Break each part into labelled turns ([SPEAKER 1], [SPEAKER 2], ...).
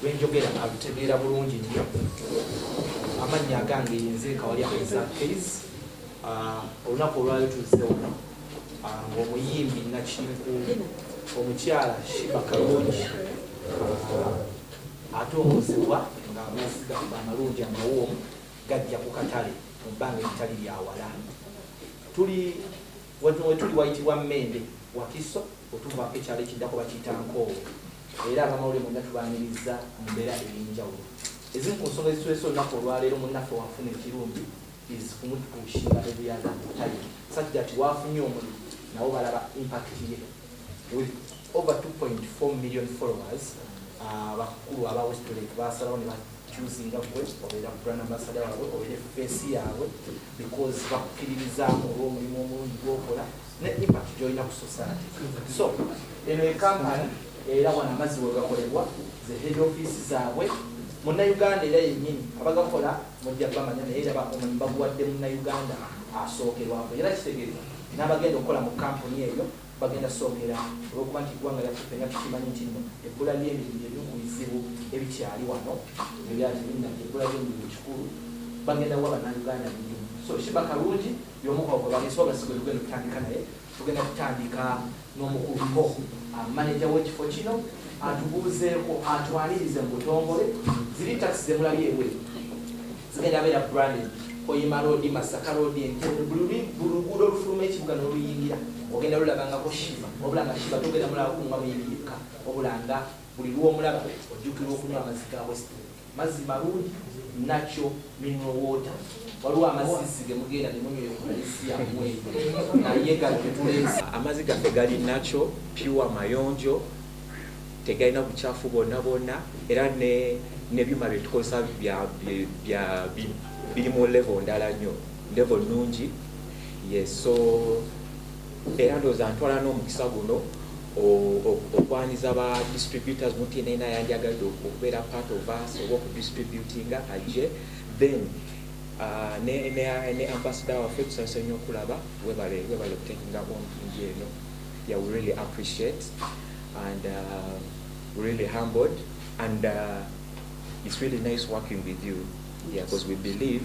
[SPEAKER 1] Lwenjogera alutegeera bulungi nnyo. Amannya agange yenze Kawalya Isaac Kayz. Ah, olunaku olwali tuzze wano ah, ng'omuyimbi nakinku omukyala Shiba Kalungi ah, atongozebwa nga mwesigamba amalungi amawoomu gajja ku katale mu bbanga eritali lyawala. Tuli Wano we tuli wayitibwa Mmende, Wakiso, we tuvaako. Ekyalo ekiddako bakiyita Nkoowe era ab'amawulire mwenna tubaaniriza mu mbeera ey'enjawulo. Ezimu ku nsonga ezituleese olunaku olwaleero, munnaffe w'afuna ekirungi is kumutuushira ebuyaga, time such that w'afunye omulimu nabo balaba impact ye. with over 2.4 million followers abakulu uh, aba West Lake basalawo ne bakyusinga gwe obeera brand ambassador waabwe obeera face yaabwe because bakukkiririzaamu olw'omulimu omulungi gwokola ne impact gyolina ku society so eno ekampani era wano amazzi wegakolebwa ze head office zaabwe munnauganda era yennyini abagakola Mujja bamanya naye era omulimu baguwadde Munnayuganda asookerwako era kitegeeza n'abagenda okukola mu kkampuni eyo bagenda kusookera olw'okuba nti eggwanga lyaffe ffenna tukimanyi nti nno ebbula ly'emirimu lye limu ku bizibu ebikyali wano ne byali binna nti ebbula ly'emirimu kikulu bagenda kuwa Bannayuganda emirimu so Sheebah Kalungi y'omu kwabo gwe baleese wabula si gwe tugenda okutandika naye Tugenda kutandika n'omukuluko maneja w'ekifo kino atubuuzeeko atwanirize mu butongole ziri takisi zemulabye ebweru zigenda beera branded koyima roodi masaka roodi entebe buli luguudo olufuluma ekibuga n'oluyingira ogenda lulabangako shiva wabula nga shiva togenda mulaba kunga muyingirirka wabula nga buli lwomulaba ojjukirwa okunywa amazzi ga west Mazzi malungi nakyo mineral water waliwo amazzizzi gemugenda nemunywa eyo police yamwe naye gano getuleese. Amazi gaffe gali natural, pure, mayonjo tegalina bukyaffu bwonna bwonna era ne byuma byetukozesa biri mu level ndala nnyo, level nnungi yes so. Era ndowooza ntwala n'omukisa guno okwanyiza ba distributors muntu yena yena yandyagadde okubeera part of us oba okudistributinga ajje then uh, ne, ne, ne ambassador waffe tusanyuse nnyo okulaba webale webale okutekinga ompingi eno yeah, we really appreciate and uh, we really humbled and uh, it's really nice working with you yeah, because we believe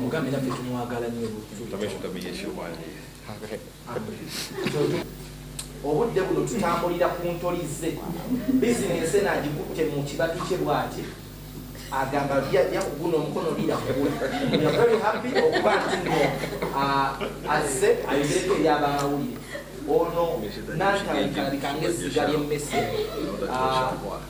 [SPEAKER 2] mugambe naffe tumwagala nyo
[SPEAKER 1] obudde buno tutambulira ku ntolize bizinensi eno agikutte mu kibatu kye bwati agamba byajja kuguna omukono lirakuavery happy okuba nti no azze ayogereko eri abamawulire ono nantalabika ngezziga lyemmese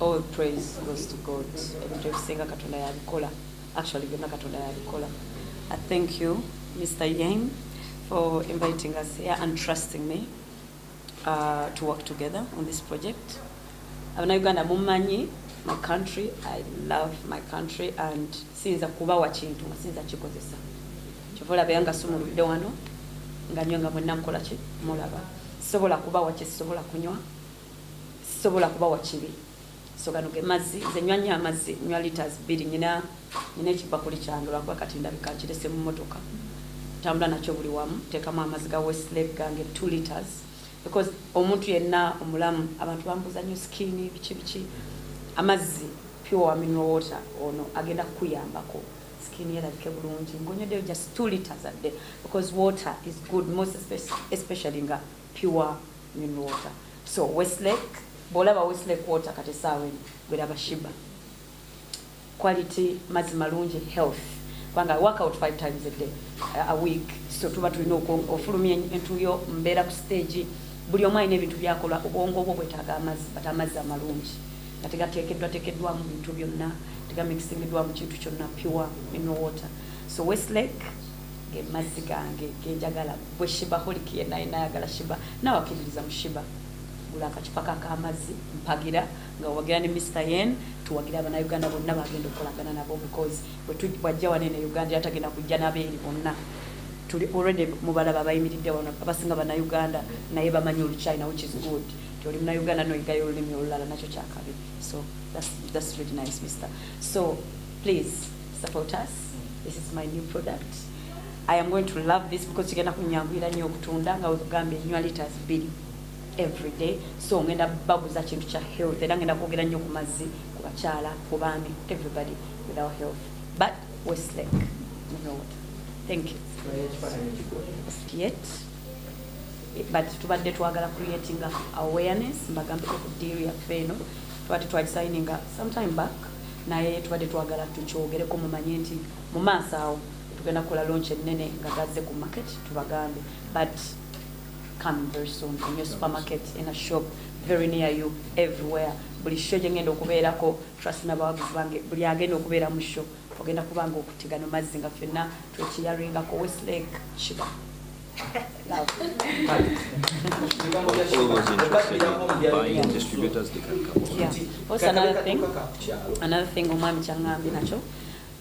[SPEAKER 3] All praise goes to God. Ebintu ebisinga Katonda yabikola. Actually, byonna Katonda yabikola. I thank you, Mr. Yang, for inviting us here and trusting me uh, to work together on this project. Abana Uganda mumanyi my country. I love my country and sinza kubawa kintu nga sinza kikozesa. Kyova olaba yanga sumuludde wano nga nyo nga mwenna mukola ki mulaba. Sobola kubawa kye sobola kunywa. sisobola kubawa kibi so gano ge mazzi nze nywa nnyo amazzi nywa liters bbiri nyina nyina ekibakuli kyange lwakuba kati ndabika nkirese mu motoka tambula nakyo buli wamu teekamu amazzi ga westlake gange t liters because omuntu yenna omulamu abantu bambuza nnyo sikini biki biki amazzi pure aminal water ono agenda kukuyambako sikini erabike bulungi ngonyodeyo just t liters adde because water is good most especially nga pure mineral water so westlake bwolaba westlake water kati esaawa eno gwe laba shiba quality mazi malungi health kubanga work out five times a day uh, a week so tuba tulina ofulumya entuyo mbeera ku stage buli omu alina ebintu byakola obwongo obwo bwetaaga amazzi but amazzi amalungi nga tegateekeddwa teekeddwamu bintu byonna tegamikisingiddwamu kintu kyonna pure mineral water so westlake Ge mazzi gange ge njagala ggwe Shibaholic yenna yenna ayagala Shiba naawe akkiririza mu Shiba gula akacupa ko ak'amazzi mpagira nga owagira ne Mister Yen tuwagire abanauganda bonna bagenda okukolagana nabo because bwajja wano eno e Uganda era tagenda kujja nabeeri bonna tuli already mubalaba abayimiridde wano abasinga banauganda naye bamanyi oluchina which is good nti oli munauganda noyigayo olulimi olulala nakyo kyakabi so that's, that's really nice mister so please support us this is my new product i am going to love this because kigenda kunyanguyira nnyo okutunda nga wekugambye nywa litas bbiri every day so ngenda baguza kintu kya health era ngenda kwogera nnyo ku mazzi ku bakyala ku baami everybody without health but westlek munowood thank you yet but tubadde twagala creating awareness mbagambeko ku deal yaffe eno twati twakisayininga sometime back naye tubadde twagala tukyogereko mumanye nti mu maaso awo tugenda kukola launch ennene nga gazze ku market tubagambe but coming very soon in your supermarket in a shop very near you everywhere buli sho gye ngenda okubeerako trust n'abawagizi bange buli agenda okubeera mu sho ogenda kubanga okutegana mazzi nga ffenna twekiyaringako westlake kiba another thing omwami kyaŋŋambye nakyo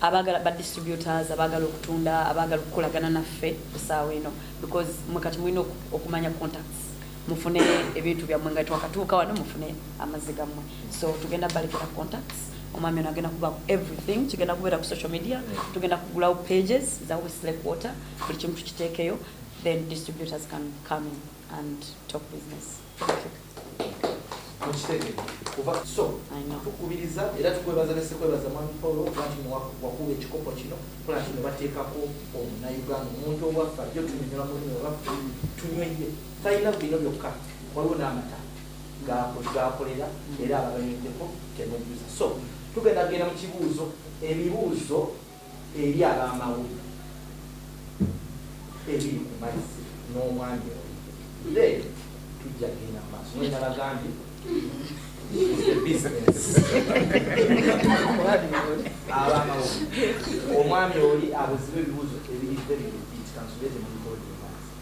[SPEAKER 3] abagala ba distributors abagala okutunda abagala okukolagana naffe esaawa eno because mwe kati mulina okumanya contacts mufune ebintu byammwe nga twakatuuka wano mufune amazzi gammwe so tugenda balekera contacts omwami ono agenda kuba everything kigenda kubeera ku social media tugenda kugulawo pages za westlake water buli kimu tukiteekeyo then distributors can come in and talk business
[SPEAKER 1] tukubiriza era tukwebaza ne sekwebaza mwami paul okuba nti wakuba ekikopo kino kola nti ne bateekako omunauganda omuntu obwaffa jo tunyonyola mulimi olwaffe tunyweye talina bino byokka waliwo n'amata gakolera era abaganyuddeko temujjuza so tugenda genda mu kibuuzo ebibuuzo eri ab'amawulire ebiri ku mazzi n'omwami oyo, then tujja kugenda mu maaso. Mwe nabagambye ab'amawulire, omwami oli abuziba ebibuuzo ebiridde bino biitika nsobye ze mubikola.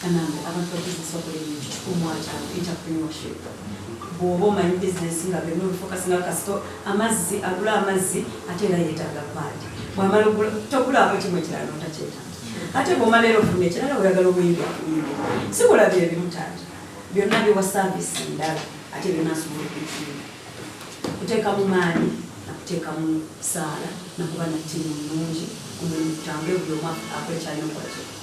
[SPEAKER 3] Kanambe, abantu bakozesa okola ebintu kikulu mu ataano, entrepreneurship. Bw'oba omanyi bizinesi nga bino bifokasi nga kasito amazzi, agula amazzi ate era yeetaaga paadi. Bw'amala ogula togulaako kimu ekirala n'otakyetaaga. Ate bw'omala era ofuna ekirala oyagala obuyimbi okuyimbi. Si kola bye bimu taata, byonna biwa saaviisi ndala ate byonna asobola okuyimba. Kuteeka mu maanyi na kuteeka mu saala na kuba na ttiimu nnungi omulimu gutambule buli omu akole ky'alina okukola.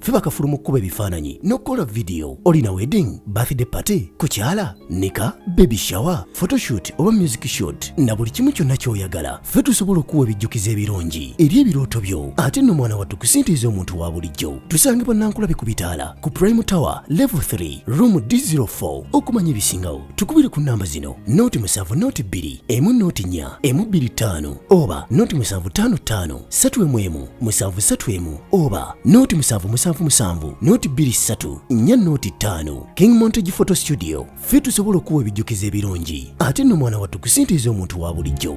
[SPEAKER 4] ffe bakafulu mu kkuba ebifaananyi n'okukola vidiyo olina wedding birthday party kukyala nika baby shower photoshoot oba music shot na buli kimu kyonna ky'oyagala ffe tusobola okuwa ebijjukizo ebirungi eri ebirooto byo ate nno mwana wattu kusintiiza omuntu wa bulijjo tusange bannankulabe ku bitaala ku prime tower level 3 room d04 okumanya ebisingawo tukubire ku nnamba zino nooti musanvu nooti bbiri emu nooti nnya emu bbiri ttaano oba nooti musanvu ttaano ttaano satu emu emu musanvu satu emu oba nooti musanvu musanvu musanvu nooti bbiri ssatu nnya nooti ttaano king montage photo studio ffe tusobola okuwa ebijjukizo ebirungi ate nno mwana wattu kusintiiza omuntu wa bulijjo